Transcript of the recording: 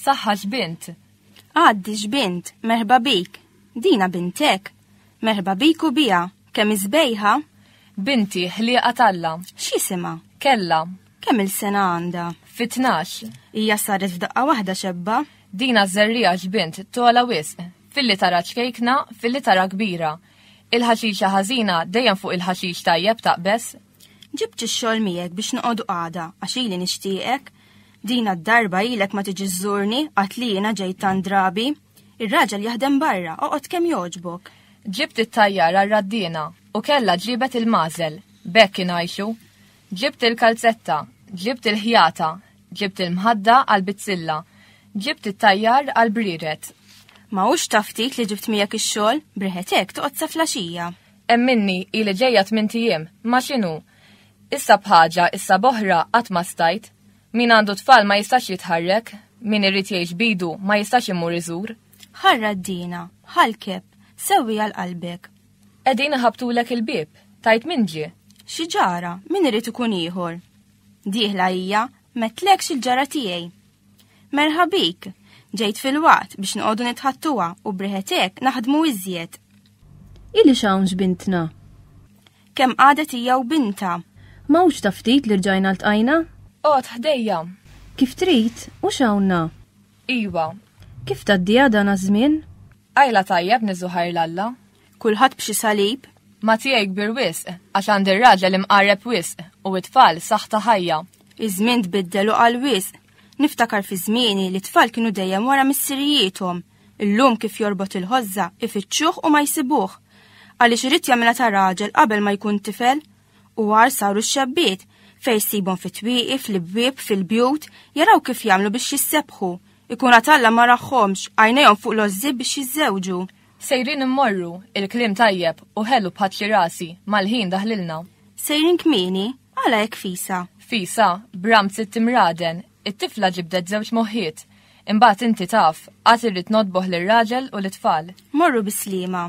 Saħħa x'bint. Għaddi x'bint, merħba bik. Dina bintek. Merħba bik u bija, kemm iżbejħa? Binti, ħlieqa talla. X'isima? Kella. Kemm il-sena għandha? Fi tnax. Hija saret f'daqqa waħda xebba. Dina żerriegħa x'bint tola wisq. Filli tara ċkejkna, filli tara kbira. Il-ħaxixa ħażina dejjem fuq il-ħaxix tajjeb taqbeż. Ġibt ix-xogħol miegħek biex noqogħdu għada għax ili nixtieqek. Dina d-darba ilek ma tiġi żżurni qatt li jiena ġejt tant drabi. Ir-raġel jaħdem barra, oqgħod kemm jogħġbok. Ġibt it-tajjar għar-raddiena u kellha ġibet il-magħżel. B'hekk ingħixu. Ġibt il-kalzetta, ġibt il-ħjata, ġibt il-mħadda għall-bizzilla, ġibt it-tajjar għall-brired. Ma hux ta' ftit li ġibt miegħek ix-xogħol, briħet hekk toqgħod sa flaxija. Hemm minni hi li ġejja tmien tijiem, ma x'inhu? Issa b'ħaġa, issa b'oħra qatt ma stajt. Min għandu tfal ma jistax jitħarrek, min irid jgħix b'idu ma jistax imur iżur. Ħarra d-dina, ħalkeb, sewwiha l-qalbek. Qegħdin iħabbtulek il-bieb, tgħid min ġie. Xi ġara, min irid ikun ieħor? Dieħla hija, metlekx il-ġara tiegħi. Merħa bik, ġejt fil-waqt biex noqogħdu nitħattuha u briħetek naħdmu iżjed. Ili xawnx bintna. Kemm qadet hija u binta. Mawx ta' ftit li rġajna ltqajna? Qgħod ħdejja. Kif trid, u xawnna. Iwa. Kif tgħaddiha dan aż-żmien? Qajla tajjeb Niżu ħajr l-Alla. Kulħadd b'xi salib. Ma tiegħi kbir wisq, għax għandi r-raġel imqarreb wisq, u t-tfal saħħ ta' ħajja. Iż-żmien tbiddel u qal wisq. Niftakar fi żmieni li t-tfal kienu dejjem wara missirijiethom. Illum kif jorbot il-ħożża, ifittxuh u ma jsibuh. Għaliex irid jagħmilha ta' raġel qabel ma jkun tifel, U għar saru x-xebbiet, fej sibhom fit-twieqi, fl-ibwieb, fil-bjut, jaraw kif jagħmlu biex jissebħu. Ikun għad Alla ma raħħomx, għajnejhom fuq l-għożżieb biex jiżżewġu. Sejrin immorru, il-kliem tajjeb u ħelu b'ħatli rasi, mal-ħin daħlilna. Sejrin kmieni, għala hekk fisa? Fisa, bram sitt imraden, it-tifla ġibdet żewġ moħħiet. Imbagħad inti taf, għad irrid nodboh lir-raġel u lit-tfal. Morru bislima.